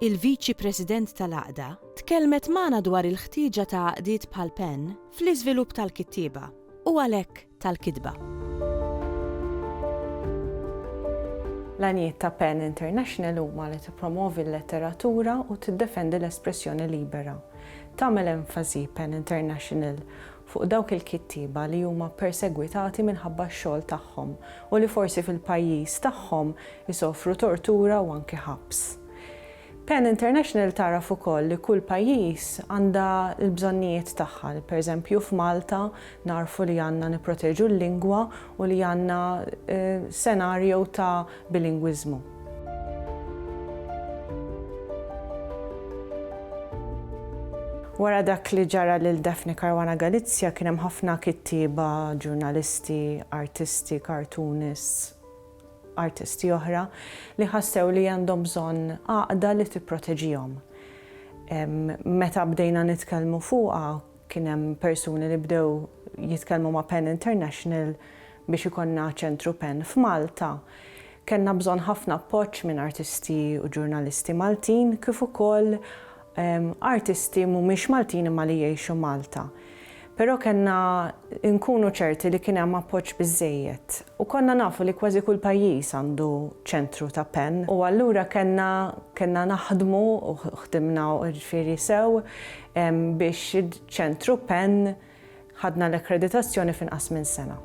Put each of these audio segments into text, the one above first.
il-Viċi President tal-Għaqda, tkellmet magħna dwar il-ħtieġa ta' għaqdiet bħal Penn fl-iżvilupp tal-kittieba, u għalhekk tal-kitba. L-għanijiet ta' Penn International huma li tippromovi l-letteratura u tiddefendi l-espressjoni libera. Tagħmel enfasi, Penn International, fuq dawk il-kittieba li huma persegwitati minħabba x-xogħol tagħhom u li forsi fil-pajjiż tagħhom isofru tortura u anki ħabs. Pen International tagħraf ukoll li kull pajjiż għandha l-bżonnijiet tagħha, li pereżempju f'Malta nagħrfu li għandna nipproteġu l-lingwa u li għandna senarjo ta' bilingwiżmu. Wara dak li ġara lil Daphne Caruana Galizia kien hemm ħafna kittieba, ġurnalisti, artisti, cartoonists, artisti oħra li ħassew li għandhom bżonn għaqda li tipproteġihom. Meta bdejna nitkellmu fuqha kien hemm persuni li bdew jitkellmu ma' Pen International Biex ikollna Ċentru Pen f'Malta, kellna bżonn ħafna appoġġ minn artisti u ġurnalisti Maltin kif ukoll artisti mhumiex Maltin imma li jgħixu Malta. Però kellna nkunu ċerti li kien hemm appoġġ biżżejjed u konna nafu li kważi kull pajjiż għandu ċentru ta' pen u allura kellna kellna naħdmu u ħdimna jiġifieri sew biex ċentru pen Ħadna l-akkreditazzjoni f'inqas minn sena.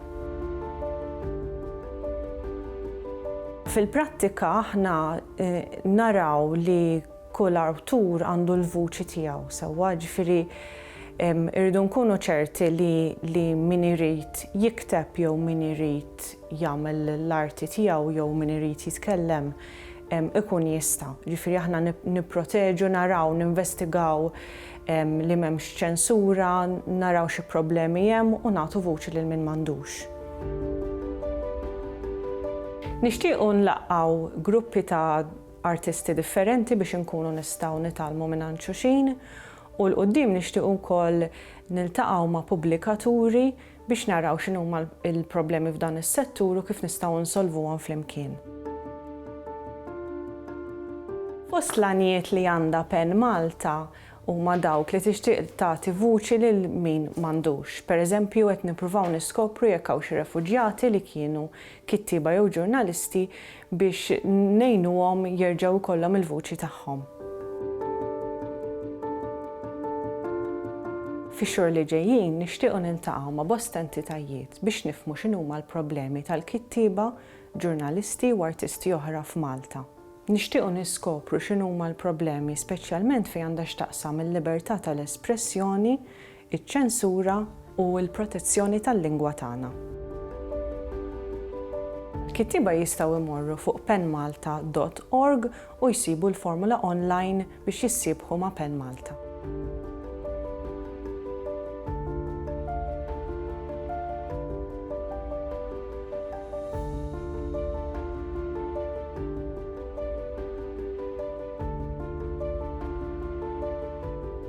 Fil-prattika aħna naraw li kull awtur għandu l-vuċi tiegħu sewwa, jiġifieri rridu nkunu ċerti li min irid jikteb jew min irid jagħmel l-arti tiegħu jew min irid jitkellem ikun jista'. Jiġifieri aħna nipproteġu, naraw, ninvestigaw li m'hemmx ċensura, naraw xi problemi hemm u nagħtu vuċi lil min m'għandux. Nixtiequ nlaqqgħu gruppi ta' artisti differenti biex inkunu nistgħu nitgħallmu mingħand xuxin u 'l quddiem nixtiequ wkoll niltaqgħu ma' pubblikaturi biex naraw x'inhuma l-problemi f'dan is-settur u kif nistgħu nsolvuhom flimkien. Fost l-għanijiet li għandha pen Malta huma dawk li tixtieq tagħti vuċi lil min m'għandux. Pereżempju qed nippruvaw niskopru jekk hawn xi refuġjati li kienu kittieba jew ġurnalisti biex ngħinuhom jerġgħu jkollhom il-vuċi tagħhom. Fix-xhur li ġejjin nixtiequ niltaqgħu ma' bosta entitajiet biex nifhmu x'inhuma l-problemi tal-kittieba, ġurnalisti u artisti oħra f'Malta. Nixtiequ niskopru x'inhuma l-problemi speċjalment fejn għandha x'taqsam il-libertà tal-espressjoni, iċ-ċensura u l-protezzjoni tal-lingwa tagħna. Kittieba jistgħu jmorru fuq penmalta dot org u jsibu l-formula online biex jissiebħu ma' Pen Malta.